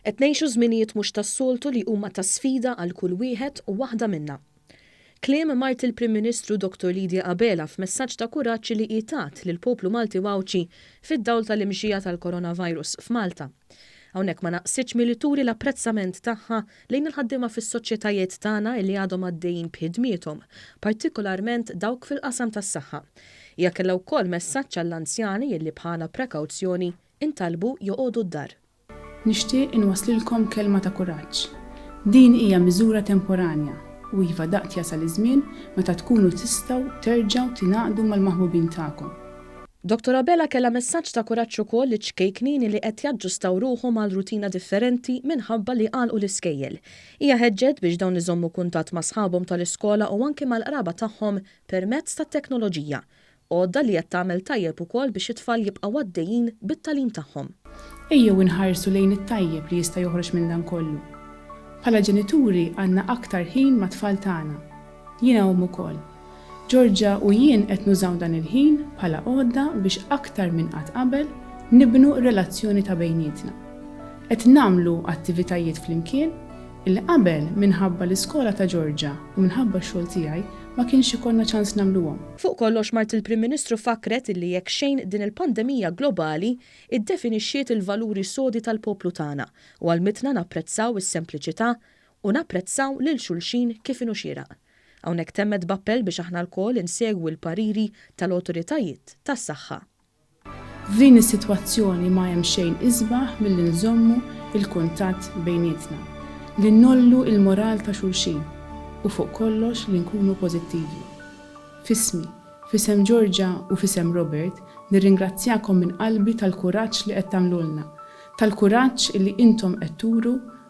Qed ngħixu żminijiet mhux tas-soltu li huma ta' sfida għal kull wieħed u waħda minna. Kliem mart il-Prim Ministru Dottor Lydia Abela f'messaġġ ta' kuraġġ li hi tat lill-poplu Malti u Għawdxi fid-dawl tal-imxija tal-Coronavirus f'Malta. Hawnhekk ma naqsitx milli turi l-apprezzament tagħha lejn il-ħaddiema fis-soċjetajiet tagħna li għadhom għaddejjin b'ħidmiethom, partikolarment dawk fil-qasam tas-saħħa. Hija kellha wkoll messaġġ għall-anzjani li bħala prekawzjoni ntalbu joqogħdu d-dar. Nixtieq inwasslilkom kelma ta' kuraġġ. Din hija miżura temporanja u iva daqt jasal iż-żmien meta tkunu tistgħu terġgħu tingħaqdu mal-maħbubin tagħkom. Dottor Abela kellha messaġġ ta' kuraġġ ukoll liċ-ċkejknin li qed jaġġustaw ruħhom għal rutina differenti minħabba li għalqu l-iskejjel. Hija ħeġġet biex dawn iżommu kuntatt ma' sħabhom tal-iskola u anki mal-qraba tagħhom permezz tat-teknoloġija, għodda li qed tagħmel tajjeb ukoll biex it-tfal jibqgħu għaddejjin bit-tagħlim tagħhom. Ejjew inħarsu lejn it-tajjeb li jista' joħroġ minn dan kollu. Bħala ġenituri għandna aktar ħin mat-tfal tagħna. Jiena omm ukoll. Georgia u jien qed nużaw dan il-ħin bħala għodda biex aktar minn qatt qabel nibnu r-relazzjoni ta' bejnietna. Qed nagħmlu attivitajiet flimkien li qabel minħabba l-iskola ta' Georgia u minħabba x-xogħol tiegħi ma kienx ikollna ċans nagħmluhom. Fuq kollox mart il-Prim Ministru fakkret illi jekk xejn din il-pandemija globali iddefinixxiet il-valuri sodi tal-poplu tagħna u għallmitna napprezzaw is-sempliċità u napprezzaw lil xulxin kif inhu xieraq. Hawnhekk temmet b'appell biex aħna lkoll insegwu l-pariri tal-awtoritajiet tas-saħħa. F'din is-sitwazzjoni ma hemm xejn isbaħ milli nżommu l-kuntatt bejnietna, li ngħollu l-moral ta' xulxin u fuq kollox li nkunu pożittivi. F'ismi, f'isem Georgia u f'isem Robert nirringrazzjakom minn qalbi tal-kuraġġ li qed tagħmlulna, tal-kuraġġ li intom qed turu